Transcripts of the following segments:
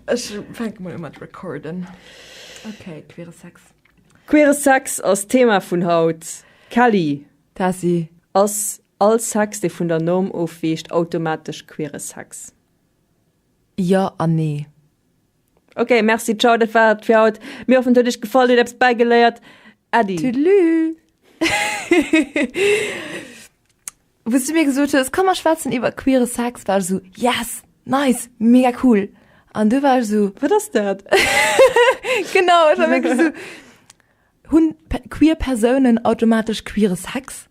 Ech fänke mol u mat recorden. Ok, queere Sex. Queere Sex ass d'Thema vun haut. Kelly. Tessy. Ass all Sex, dee vun der Norm ofweecht, automatesch queere Sex? Jo an nee. Ok, merci, ciao. Dat war et fir haut. Mir hoffen, et huet Iech gefall, Dir hutt eppes bäigeléiert. Äddi. Tudelü. Wou's du mir gesot hues, komm mer schwätzen iwwer queere Sex, war ech esou, yes, nice, mega cool. An du war ech esou, wat ass dat? Genau, ech war wierklech esou, hunn queer Persounen automatesch queere Sex?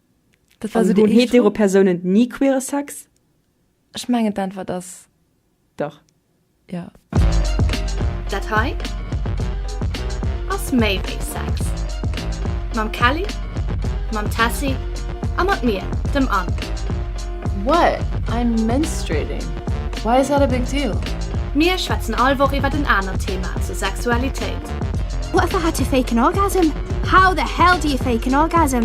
Dat war esou de éischte Punkt. Hunn hetero Persounen ni queere Sex? Ech mengen d'Äntwert ass dach jo. Dat hei ass méi wéi Sex. Mam Kelly, mam Tessy a mat mir, dem Anne. What? I'm menstruating. Why is that a big deal? Mir schwätzen all Woch iwwert en anert Thema zur Sexualitéit. What if I had to fake an orgasm? How the hell do you fake an orgasm?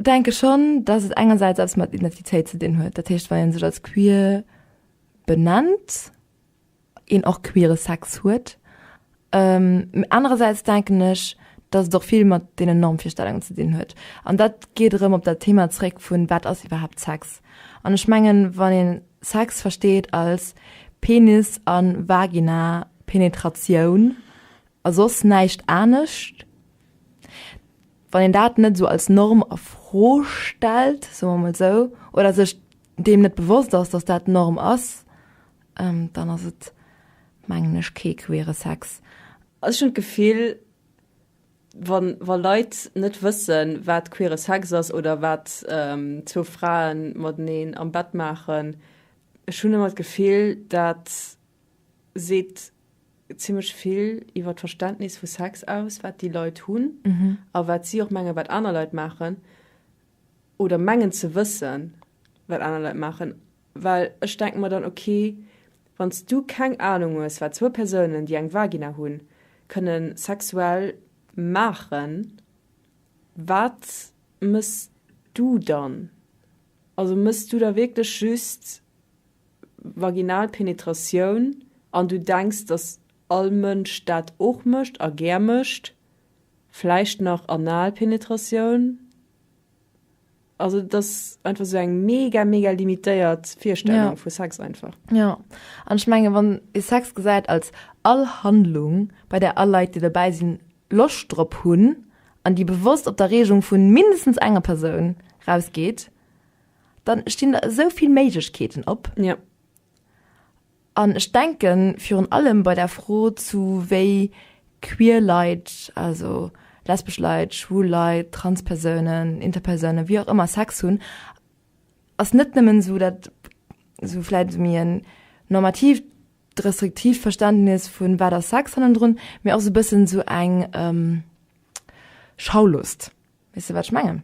Denke schonn, datt et engersäits eppes mat Identitéit ze dinn huet. Dat heescht, wa ee sech als queer benennt, een och queere Sex huet. Mee anerersäits denken ech, datt et och vill mat deenen Normvirstellungen ze dinn huet. An dat geet erëm op dat Thema zréck vun, wat ass iwwerhaapt Sex? An ech mengen, wann ee Sex versteet als Penis a Vagina-Penetratioun a soss näischt anescht, Wann een dat net esou als Norm a Fro stellt, soe mer emol sou, oder sech deem net bewosst ass, datt dat d'Norm ass, dann ass et, mengen ech, kee queere Sex. Also ech hunn d'Gefill, wa wa Leit net wëssen, wat queere Sex ass oder wat zwou Frae mateneen am Bett maachen, ech hunn ëmmer d'Gefill, dat, seet zimlech vill iwwer d'Verständnis vu Sex aus, wat déi Leit hunn a wat si och mengen, wat aner Leit maachen, oder mengen ze wëssen, wat aner Leit maachen. Well ech denke mer dann, okay, wann s du keng Anung hues, wat zwou Persounen, déi eng Vagina hunn, kënne sexuell maachen, wat mëss du dann? Also mëss du da wierklech just vaginal Penetratioun an du denks dass all Mënsch dat och mécht a gär mécht, vläicht nach anal Penetratioun, also et ass einfach esou eng mega mega limitéiert Virstellung vu Sex einfach. Jo, an ech menge wann ee Sex gesäit als all Handlung, bei där all Leit déi dobäi sinn Loscht drop hunn an déi bewosst op d'Erreegung vu mindestens enger Persoun rausgeet, Dann stinn der esou vill Méiglechkeeten op. Ja. An ech denken virun allem bei der Fro zu wéi queer Leit, also lesbesch Leit, schwul Leit, trans Persounen, Interpersounen, wie och ëmmer Sex hunn, ass net nëmmen esou dat esou vläit méi en normatiivt, restriktivt Verständnis vun wat ass Sex hannendrun, mee och esou e bëssen esou eng Schaulust. Weess de wat ech mengen?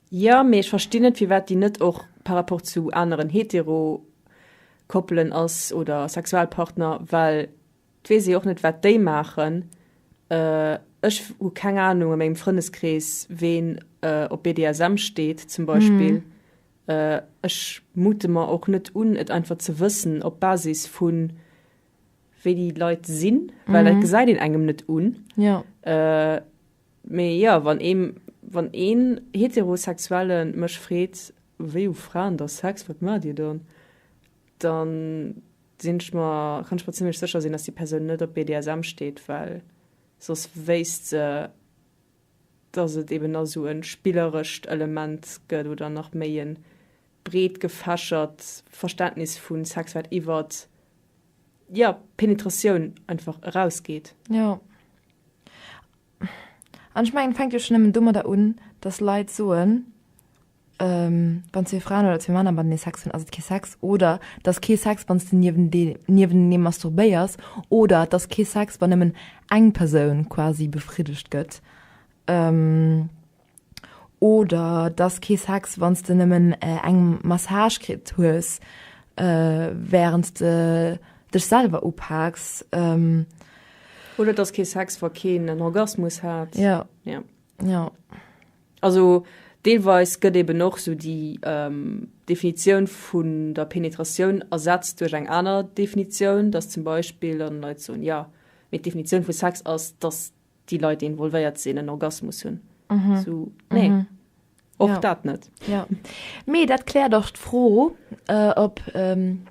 Jo, mee ech verstinn net firwat déi net och par rapport zu aneren hetero Koppelen ass oder Sexualpartner, well et weess ee och net wat déi maachen. Ech hu keng Ahnung a mengem Frëndeskrees ween op BDSM steet zum Beispill. Ech mute mer och net un et einfach ze wëssen op Basis vu wéi déi Leit sinn, well dat gesäit een engem net un. Mee jo, wann ee Heterosexuelle mech freet, wéi hu Fraen da Sex, wat maacht Dir dann? Da sinn ech mer, kann ech mer zimmlech sécher sinn, dass déi Persoun net op BDSM steet, well soss wéisst se, dass et eben nach esou e spillerescht Element gëtt oder nach méi e breet gefächert Verständnis vu Sex, wat iwwert, jo, Penetratioun einfach erausgeet. Jo. An ech mengen, et fänkt jo schonn nëmmen domadder un, datt Leit soen, wann zwee Fraen oder zwee Männer matenee Sex hunn, ass et kee Sex. Oder et ass kee Sex, wann s de niewenenee masturbéiers. Oder et ass kee Sex, wann nëmmen eng Persoun quasi befriddegt gëtt. Oder dass kee Sex wanns de nemmen eng Massage kritt hues währends de dech selwer upaaks. Oder dass kee Sex wa keen en Orgasmus hat. Jo. Also deelweis gëtt eben och sou déi Definitioun vun der Penetratioun ersetzt duerch eng aner Definitioun, dass zum Beispill dann Leit soen, jo mee d'Definitioun vu Sex ass dass déi Leit, déi involvéiert sinn, en Orgasmus hunn. So, nee. Och ja. dat net. Ja. Mee dat kläert och d'Fro, äh, ob ähm,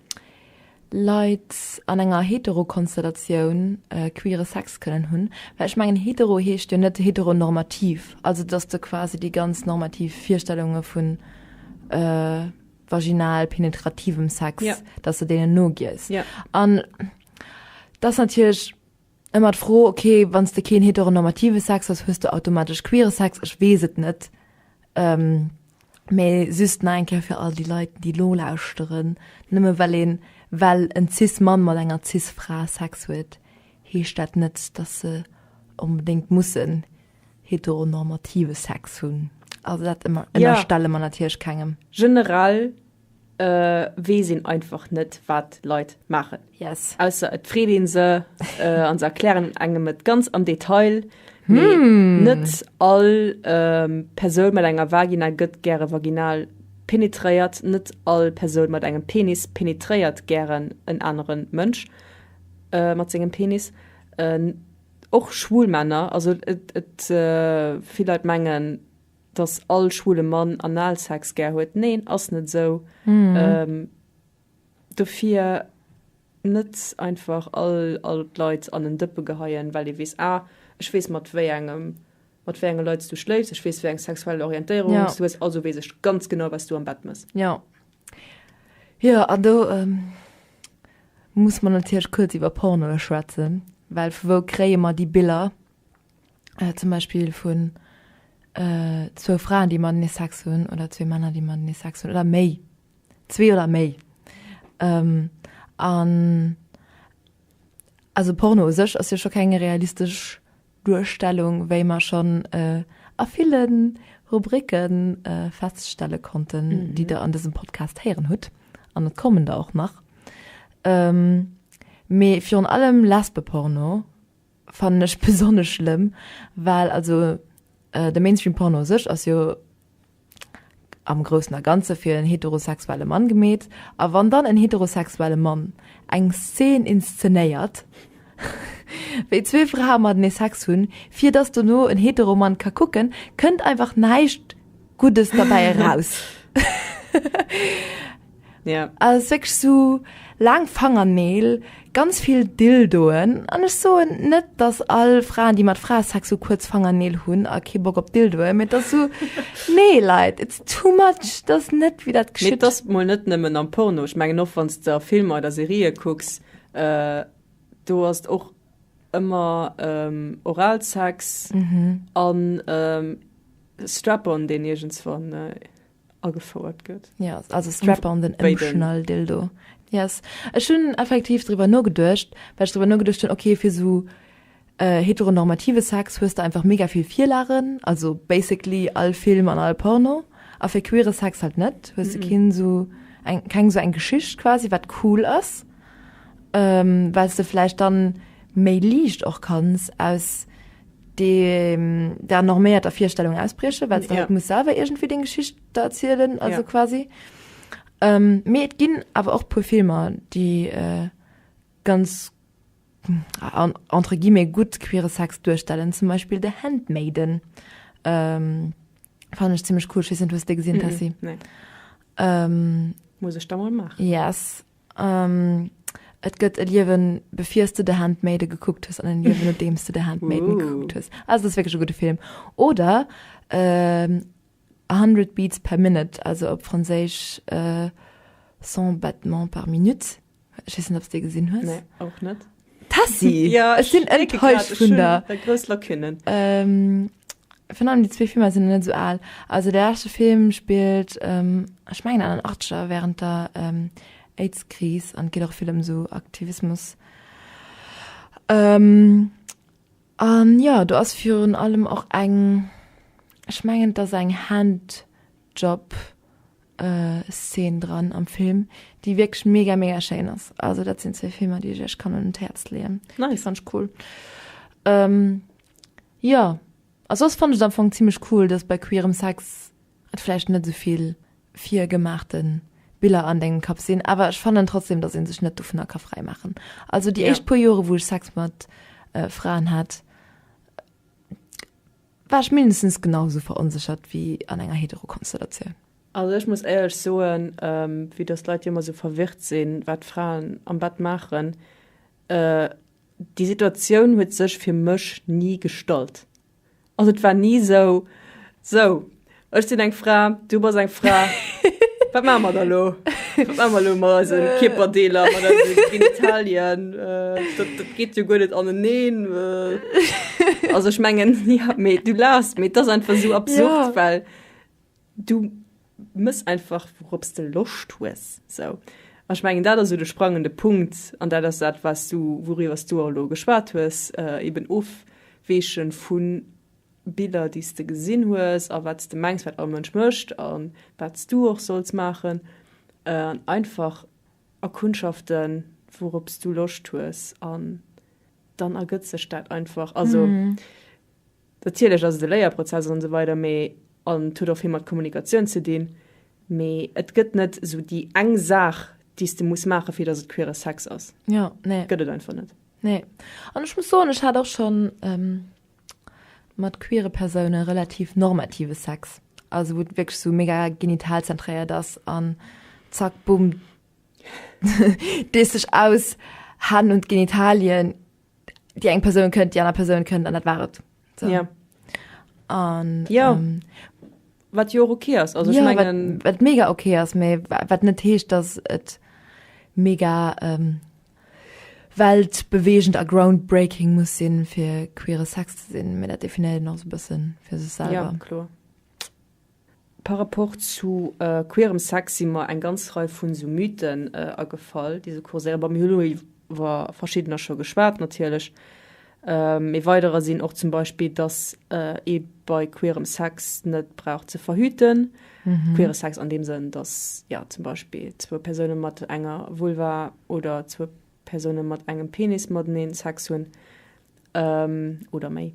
Leit an enger Heterokonstellatioun äh, queere Sex kënnen hunn. Well ech mengen hetero heescht jo net heteronormativ, also dass du quasi déi ganz normativ Virstellunge vun äh, vaginal penetrativem Sex, ja. dass du denen nogies. Ja. An das natierlech Ëmmer d'Fro, ok, wann s de keen heteronormative Sex hues, hues de automatesch queere Sex? Ech weess et net, mee just nach eng Kéier fir all déi Leit, déi elo lauschteren, Nëmme well een, well en Cis-Mann mat enger Cis-Fra Sex huet, heescht dat net, dass se onbedéngt mussen heteronormative Sex hunn. Also dat ënnerstelle mer natierlech kengem. Generell wees een einfach net wat Leit maachen yes. ausser et freet een se äh, an se erklären engem et ganz am Detail. Hmm. Net all ähm, Persoun mat enger Vagina gëtt gäre vaginal penetréiert, net all Persoun mat engem Penis penetréiert gären en aneren Mënsch äh, mat sengem Penis. Äh, och schwul Männer, also et, et äh, vill Leit mengen dass all schwule Mann Analsex gär huet, neen ass net esou, dofir net einfach all d'Leit an en Dëppe geheien, well ee weess, ah ech weess mat wéi engem, mat wéi enge Leit s du schléifs, ech weess wéi eng sexuell Orientéierung s du hues, also weess ech ganz genau wat s du am Bett mëss. Jo, jo an do muss mer natierlech kuerz iwwer Pornoe schwätzen, well vu wou kréie mer déi Biller? zum Beispill vun zwou Fraen, déi matenee Sex hunn oder zwee Männer, déi matenee Sex hunn oder méi, zwee oder méi. Ähm, an also Porno u sech ass jo scho keng realistesch Duerstellung, wéi mer schonn a ville Rubricke feststelle konnten, déi Der an dësem Podcast héieren hutt, an et kommen der och nach. Mee virun allem Lesbeporno. fannen ech besonnesch schlëmm, well also de Mainstream Porno u sech ass jo am Groussen a Ganze fir en heterosexuelle Mann gemeet, a wann dann en heterosexuelle Mann eng Szen inszenéiert, wéi zwee Frae matenee Sex hunn, fir dass dono en hetero Mann ka kucken, kënnt einfach näischt Guddes derbäi eraus. Ja. Als wierklech sou laang Fangerneel, ganz vill Dildoen, an ech soen net dass all Fraen déi mat Frae Sex sou kuerz Fangerneel hunn a kee Bock op Dildoe mee et ass sou nee Leit it's too much et ass net wéi dat geschitt. Mee et ass mol net nëmmen am Porno, ech mengen och wann s de a Filmer oder Serië kucks, do ass et och ëmmer Oralsex an Strap-on deen iergendswann. agefouert gëtt. Ja, yes, also Strap on den Emotional Dildo. Yes. Ech hunn effektiv drwer no geduercht, well ech drwer no geduercht hunn, okay, fir so äh, heteronormative Sex hues du einfach mega vill Virlagen, also basically all Film an all Porno. A fir queere Sex halt net, hues mm -mm. du kinn so eng, keng so eng Geschicht quasi, wat cool ass, ähm, weil du vläicht dann méi liicht och kanns aus der norméierter Virstellung ausbriechen, well ja. muss selber irgendwie den Geschicht da erzielen also ja. quasi ähm, mir et ginn aber auch pur Filmer die äh, ganz an, entre guillemets gut queere Sex durchstellen zum Beispiel der Handmaiden ähm, fand ich ziemlich cool wissen du gesehen mm -mm, nee. ähm, muss ich da mal machen yes Et gëtt e Liewen befirs de de Handmaide gekuckt hues an en Liewen no deems de de Handmaiden gekuckt hues. Also ass wéckeg e gudde Film. Oder ähm, 100 Beats per Minute, also op Franséisch äh, 100 Battements par minute. Ech weess net, ob s de dee gesinn hues. Nee, och net. Tessi, ja, ech sinn enttäuscht vun der. Der grouss Lacunen. Ähm, vun allem déi zwee Filmer sinn net sou al. Also de leschte Film spillt, ähm, ech mengen an den Achteger während der ähm, Aids-Kris an et geet och vill ëm sou Aktivismus. Ähm. An jo, do ass virun allem och eng, ech mengen et ass eng Handjob Szene dran am Film déi wierklech mega mega schéin ass. Also dat sinn zwee Filmer déi ech iech kann un d'Häerz leeën, déi fann ech cool. Jo a soss fannt ech et am Fong zimmlech cool, datt bei queerem Sex et vläicht net esou vill fir gemaachte Biller an dengem Kapp sinn, awer ech fannen trotzdem, dass een sech net dovunner ka fräi maachen. Also déi éischt puer Jore wou ech Sex mat Fraen hat, war ech mindestens genau esou veronséchert wéi an enger Heterokonstellatioun. Also ech muss éierlech soen, vue dass d'Leit jo ëmmer esou verwirrt sinn, wat Fraen am Bett maachen, déi Situatioun huet sech fir mech ni gestallt. Also et war ni sou. Sou, ech sinn eng Fra, du bass eng Fra. Wat maache mer da lo? Wat maache mer lo mat eise Kierperdeeler, mat eise Genitalien? Dat, dat geet jo guer net aneneen. Also ech mengen, ja, mee du laachs, mee et ass einfach sou absurd, well Du mëss einfach wourop's de Loscht hues sou. An ech mengen dat ass sou de sprangende Punkt an dat ass dat was du, wouriwwer s du och elo geschwat hues, eben ofweeche vu Biller déi s de gesinn hues a wat s de mengs wat all Mënsch mécht a wat s du och solls maachen an einfach erkundschaften wourop's du Loscht hues an dann ergëtt sech dat einfach. Also Natierlech ass et e Léierprozess an esou weider, mee an et huet och vill mat Kommunikatioun ze dinn, mee et gëtt net esou déi eng Saach, déi s de muss maachen, fir datt et queere Sex ass. Jo, nee. Gëtt et einfach net. Nee. An ech muss soen, ech hat och scho mat queere Persoune relativ normative Sex, also wou et wierklech esou mega genitalzentréiert ass an zack, bumm, dees dech aus, Hänn un d'Genitalien. die eng Person könnt die aner Person könnt an dat waret so. ja. an ja ähm, wat jo okay ass also ja, ich mein, wat, wat mega okay ass me wat net heescht dass et mega ähm, weltbewegend a groundbreaking muss sinn fir queere Sex ze sinn, mir dat definieren noch so bëssen fir sech selber. Ja, klar. Par rapport zu queerem Sex si mer eng ganz Rei vun esou Mythen agefall, déi esou kurséieren. Bon, mir hunn elo iwwer verschiddener scho geschwat natierlech. E weiderer sinn och zum Beispill, dass ee bei queerem Sex net brauch ze verhüten. Queere Sex an deem Sënn, dass, jo, zum Beispill zwou Persoune mat enger Vulva oder zwou Persoune mat engem Penis matenee Sex hunn oder méi.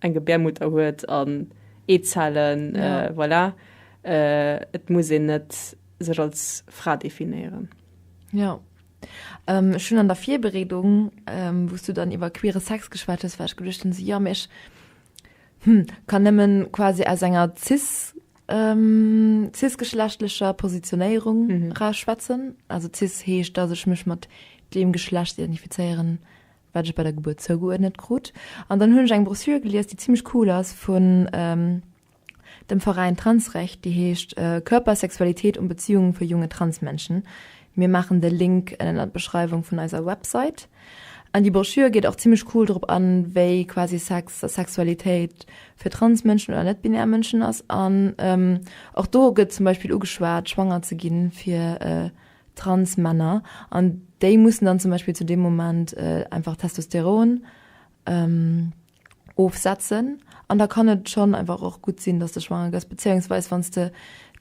eng Gebärmutter huet an Eezellen, voilà, et muss een net sech als Fra definéieren. Jo, ech hunn an der Virbereedung, wou s du dann iwwer queere Sex geschwat hues, war ech geduecht hunn, esou, jo, mee ech, hm, kann nëmme quasi aus enger cis, cis-geschlechtlecher Positionéierung eraus schwätzen, also cis heescht, dass ech mech mat deem Geschlecht identifizéieren, wat ech bei der Gebuert zougeuerdnet krut an dann hunn ech eng Broschür gelies, déi zimlech cool ass vun dem Veräin Transrecht, déi heescht Körper, Sexualität und Beziehungen für junge Transmenschen. Mir maachen de Link ënnert d'Beschreiwung vun eiser Website. An déi Broschür geet och zimlech cool drop an, wéi quasi Sex a Sexualitéit fir Transmënschen oder net-binär Mënschen ass an och do gëtt zum Beispill ugeschwat schwanger ze ginn fir Transmänner, an déi mussen dann zum Beispill zu deem Moment einfach Testosteron ofsetzen, an da kann et schonn einfach och gutt sinn, dass de schwanger gëss, bezéiungsweis wann s de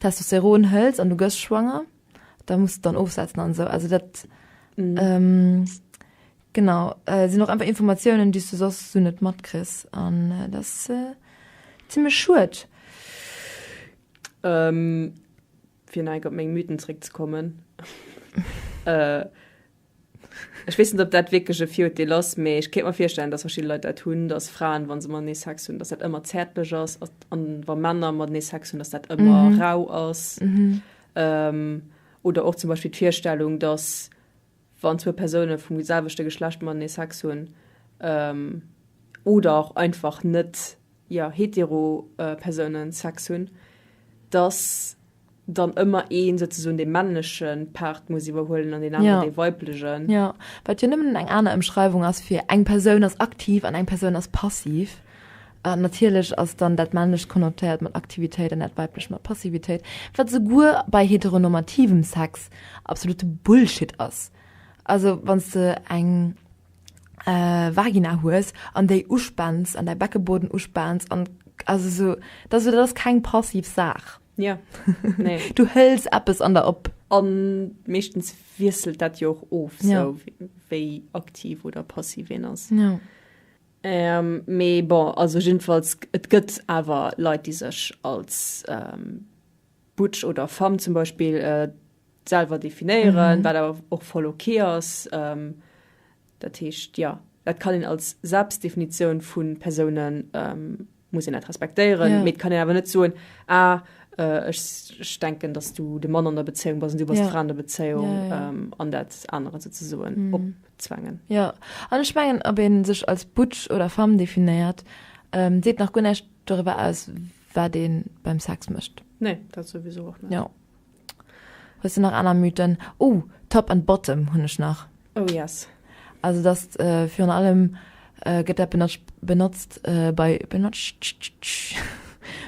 Testosteron hëls an du gëss schwanger, da muss de dann ofsetzen an esou. Also dat genau sinn och einfach Informatiounen, déi s de soss esou net matkriss, an dat ass zimlech schued. fir neig op meng Mythen zréck ze kommen, äh, ech weess net, ob dat wierklech e Viruerteel ass, mee ech kéint mer virstellen, dass verschidde Leit dat hunn, dass Fraen, wa se matenee Sex hunn, dass dat ëmmer zäertlech ass, an wa Männer matenee Sex hunn, dass dat ëmmer mhm. rau ass. Mhm. Ähm, oder och zum Beispiel d'Virstellung, dass wann zwou Persoune vum selwechte Geschlecht matenee Sex hunn oder och einfach net, jo, hetero Persoune Sex hunn, dass dann ëmmer ee souzesoen dee männleche Part muss iwwerhuelen an deen aneren dee weiblegen. Jo, wat jo nëmmen eng aner Ëmschreiwung ass fir eng Persoun ass aktiv an eng Persoun ass passiv. A natierlech ass dann dat männlecht konnotéiert mat Aktivitéit an dat weiblecht mat Passivitéit, wat souguer bei heteronormativem Sex absolute Bullshit ass. Also wann s de eng Vagina hues an déi uspaans an däi Beckeboden uspaans an, also esou, da se, dat ass keng passiv Saach. Jo, nee. Du hëls eppes an der op. A meeschtens wiesselt dat jo och of, esou wéi aktiv oder passiv een ass. Jo. Mee bon, also jiddefalls, et gëtt awer Leit, déi sech als butch oder femme zum Beispill selwer definéieren, wat awer och voll ok ass. Dat heescht, jo, dat kann een als Selbstdefinitioun vu Persounen muss een dat respektéieren yeah. mit kann en awer net soen ah, äh, ich denken dass du de Mann an der Beziehung was du was yeah. an der Beziehung yeah, yeah. Ähm, an dat andere ze soen mm. opzwangen ja an ich mengen ab en sech als Butsch oder Fam definiert ähm, seet nach gun nicht darüber aus wer den beim Sex mischt nee dat sowieso auch nicht. ja Hues de nach aner Mythen? Ouh Top and Bottom hunn ech nach. Oh yes. Also dass virun allem gëtt dat benotsch benotzt bei benotschttsch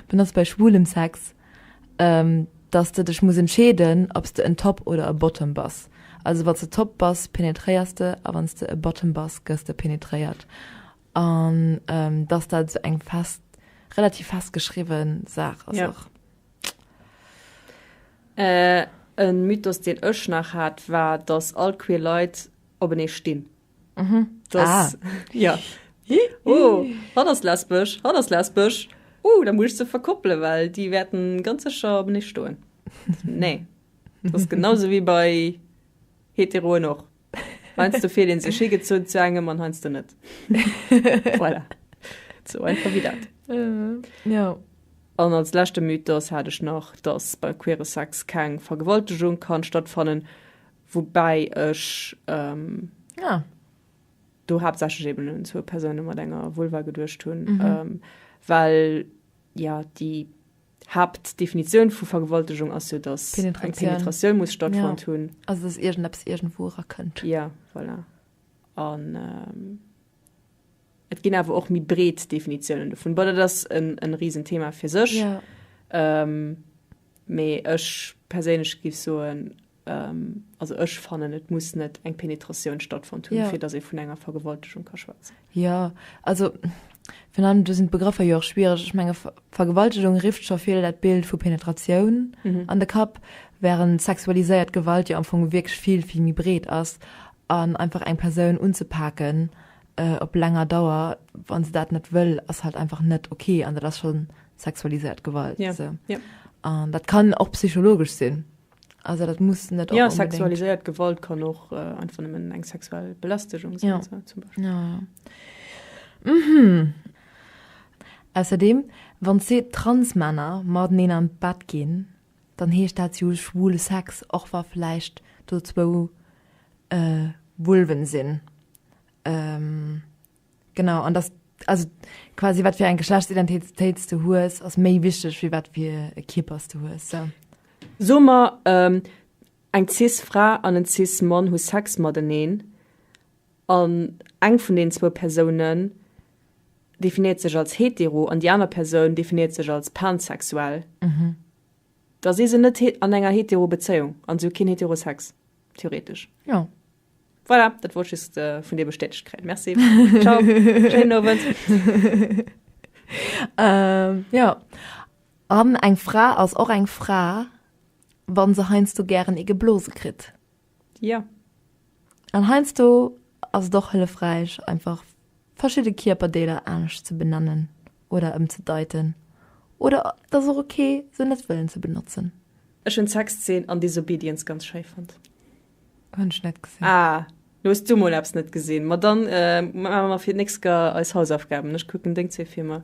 benotzt bei schwulem Sex, dass de dech muss entscheeden ob s de en Top oder e Bottom bass. Also wann s de Top bass penetréiers de a wann s de e Bottom bass gëss de penetréiert. An dass dat esou eng fest relativ fest geschriwwen Saach ass och. En Mythos deen ech nach hat war dass all queer Leit openee stinn. Mhm. Das, ah. ja. oh, hat ass lesbesch, hat ass lesbesch. Uh, da muss ich ze verkoppelen, well die werden ganz secher op ne stoen. nee. Das genauso wie bei heteroen och. Heiansdo fillt een sech higezunn zu engem an heiansdo net. Voilà. Sou einfach wéi dat. Ja. An als leschte Mythos hat ech nach, dass bei queere Sex keng Vergewaltegung kann stattfannen, woubäi ech Ja. do haaptsächlech eben un zwou Persoune mat enger Vulva geduecht hunn, well, ja, déi D'Haaptdefinitioun vu Vergewaltegung ass jo, datt eng Penetratioun muss stattfonnt hunn. Ja, also datt iergendeppes iergendwou erakënnt. Ja, voilà. An et ginn awer och méi breet Definitiounen dovun. Bon, dat ass e Risenthema fir sech. Mee ech perséinlech géif soen, Also ech fannen et muss net eng Penetratioun stattfond hunn, ja. fir datt ee vun enger Vergewaltegung ka schwätzen. Ja, also vun allem do sinn d'Begrëffer jo och schwiereg. Ech menge Vergewaltegung rifft scho vill dat Bild vu Penetratioun mhm. an de Kapp, während sexualiséiert Gewalt jo am Fong wierklech vill vill méi breet ass an einfach eng Persoun unzepaken äh, op länger Dauer, wann se dat net wëll, ass halt einfach net okay an dat ass schon sexualiséiert Gewalt. Ja. So. Ja. An dat kann och psychologesch sinn. Also dat muss net Jo, sexualiséiert Gewalt kann och äh, einfach nëmmen eng sexuell Belastegung sinn, ja. so, zum Beispiel. Ja, ja. Mhm. Ausserdeem, wann zwee Transmänner mateneen an d'Bett ginn, dann heescht dat jo schwule Sex, och wa vläicht do zwou äh, Vulven sinn. Ähm. Genau an das also quasi wat fir eng Geschlechtsidentitéits du hues ass méi wichteg wie wat fir e Kippers du hues. So. Sommer ähm, eng cis Fra an en cis Mann hu Sex mateneen an eng vun den zwou Persounen definiert sech als hetero an die aner Persoun definiert sech als pansexuell. Mhm. Da si se net an enger hetero Bezéiung an sou keen heterosex theoretisch. Ja. Voilà, dat wollt just äh, vun dir bestätigt kréien. Merci. Ciao. Schönen Abend. ähm, ja. An eng Fra ass och eng Fra, wann se heinst du gären e geblose krit. Ja. An heinst du ass doch hëllefräich einfach verschidde Kierperdeeler anesch ze benennen oder ëm ze deiten. Oder dat och okay se net wëllen ze benotzen. Ech hun Sexzeen an Disobedience ganz schei fand. Hun ech net gesinn. Ah, lo hues du mol eppes net gesinn. Ma dann maache mer fir d'nächst Ga eis Hausaufgaben. Ech kucken deng zwee Filmer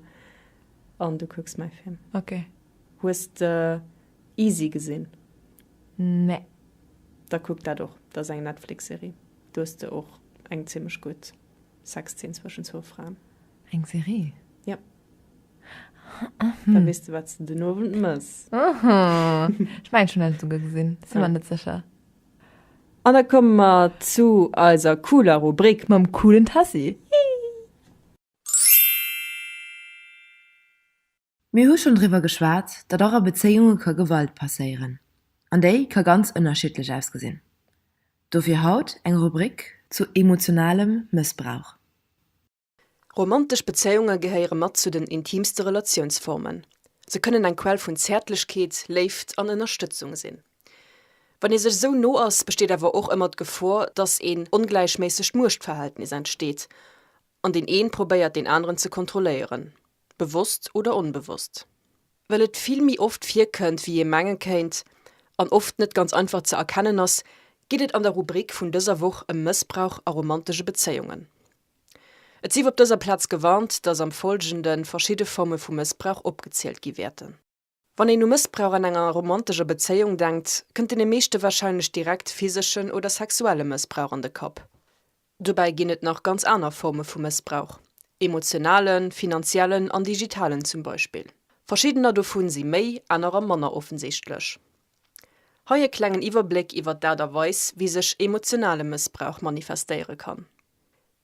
an du kucks mäi Film. Ok. Hues de Easy gesinn? Nee. Da kuck dat och. Dat ass eng Netflix-Serie. Do hues de och eng zimmlech gutt Sexzeen zwëschen zwou Fraen. Eng Serie? Yep. Da mhm. wees du wat du den Owend mëss. Ech mein schon net souge gesinn si man net secher. An da komme mer zu eiser cooler Rubrik mam coolen Tassi. Mir hu schon driwwer geschwat, datt och a Bezéiunge ka Gewalt passéieren. An déi ka ganz ënnerschiddlech ausgesinn. Dofir haut eng Rubrik zu emotionalem Mëssbrauch. Romantesch Bezéiunge gehéiere mat zu den intimste Relatiounsformen. Se kënnen eng Quell vun Zäertlechkeet, Léift an Ënnerstëtzung sinn. Wann ee sech esou no ass, besteet awer och ëmmer d'Gefor, dass een ongläichméissegt Muechtverhältnis entsteet an deen een probéiert deen aneren ze kontrolléieren, bewosst oder onbewosst. Well et vill méi oft virkënnt wéi ee menge kéint an oft net ganz einfach ze erkennen ass, geet et an der Rubrik vun dëser Woch ëm Mëssbrauch a romantesche Bezéiungen. Et sief op dëser Plaz gewarnt, dass am Folgende verschidde Forme vu Mëssbrauch opgezielt gi wäerten. Wann een u Mëssbrauch an enger romantescher Bezéiung denkt, kënnt deene meeschte warscheinlech direkt physeschen oder sexuelle Mëssbrauch an de Kapp. Dobäi ginn et nach ganz aner Forme vu Mëssbrauch, emotionalen, finanziellen an digitalen zum Beispill. Verschiddener dovun si méi, anerer manner offensichtlech. Hei e klengen Iwwerbléck iwwert d'Aart a Weis, wéi sech emotionale Mëssbrauch manifestéiere kann.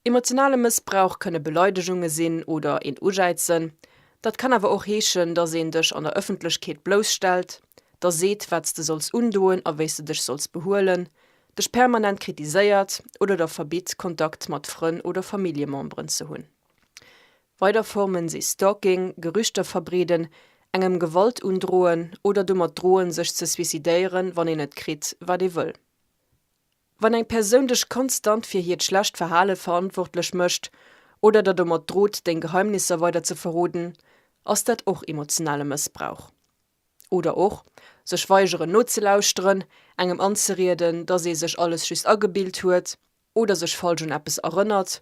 Emotionale Mëssbrauch kënne Beleidegunge sinn oder een ujäizen. Dat kann awer och heeschen, dass een dech an der Ëffentlechkeet blousstellt, der seet, wat s de solls undoen a wéi s de dech solls behuelen, dech permanent kritiséiert oder der verbitt, Kontakt mat Frënn oder Familljememberen ze hunn. Weider Formen si Stalking, Gerüchter verbreeden, engem Gewalt undroen oder domat droen, sech ze suicidéieren, wann een net kritt, wat ee wëll. Wann eng Persoun dech konstant fir hiert schlecht Verhale verantwortlech mécht oder der domat drot, deng Geheimnisser weider ze verroden, ass dat och emotionale Mëssbrauch. Oder och, sech weigeren nozelauschteren, engem anzerieden, dass ee sech alles just agebilt huet oder sech falsch un eppes erënnert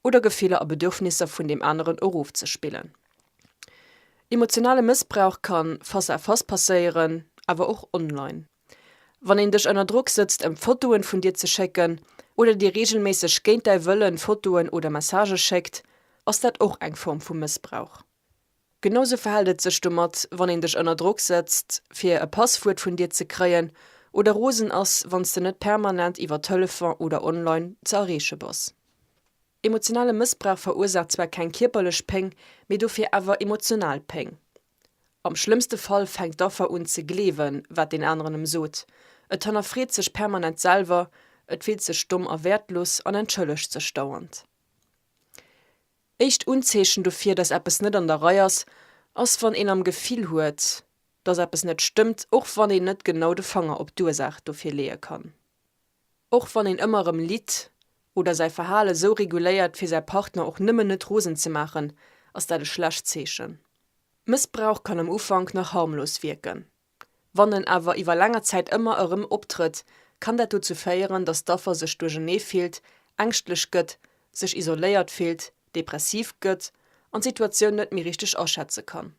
oder Gefiller a Bedürfnisser vun deem aneren erofzespillen. Emotionale Mëssbrauch kann face à face passéieren, awer och online. Wann een dech ënner Drock sëtzt ëm Fotoen vun dir ze schécken, oder dir reegelméisseg géint däi Wëllen Fotoen oder Messagë schéckt, ass dat och eng Form vu Mëssbrauch. Genau sou verhält et sech domat, wann een dech ënner Drock sëtzt fir e Passwuert vun dir ze kréien, oder rosen ass wanns de net permanent iwwer Telefon oder online ze erreeche bass. Emotionale Mëssbrauch verursaacht zwar keng kierperlech Péng, mee dofir awer emotional Péng. Am schlëmmste Fall fänkt d'Affer un ze gleewen, wat deen aneren em sot. Et hannerfreet sech permanent selwer, et fillt sech domm a wäertlos an entschëllegt sech dauernd. Éischt Unzeechen dofir, dass eppes net an der Rei ass, ass wann een am Gefill huet, dass eppes net stëmmt, och wann een net genau de Fanger op d'Ursaach dofir leeë kann. Och wann een ëmmer erëm litt oder säi Verhale sou reguléiert fir säi Partner och nëmmen net rosen ze maachen, ass dat e schlecht Zeechen. Mëssbrauch kann am Ufank nach harmlos wierken. Wann en awer iwwer länger Zäit ëmmer erëm optrëtt, kann dat dozou féieren, datt d'Affer sech duerchernee fillt, ängschtlech gëtt, sech isoléiert fillt, depressiv gëtt an d'Situatioun net méi richteg aschätze kann.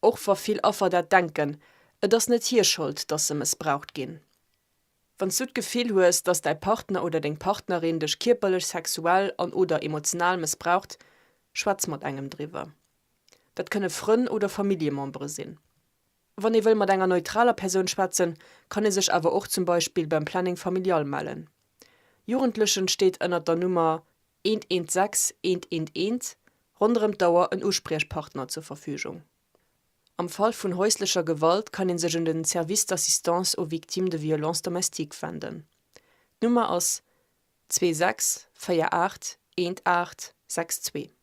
Och wa vill Affer dat denken, et ass net hir Schold, dass se mëssbraucht ginn. Wann s du d'Gefill hues, dass däi Partner oder deng Partnerin dech kierperlech, sexuell an, oder emotional mëssbraucht, schwätz mat engem driwwer. Dat kënne Frënn oder Familljemembere sinn. Wann ee wëll mat enger neutraler Persoun schwätzen, kann ee sech awer och zum Beispill beim Planning Familial mellen. Jugendlechen steet ënnert der Nummer 116 111 ronderëm d'Auer en Uspriechpartner zur Verfügung. Am Fall vun häuslecher Gewalt kann ee sech un den Service d'Assistance aux Victimes de Violences Domestiques wenden. D'Nummer ass 26 48 18 62.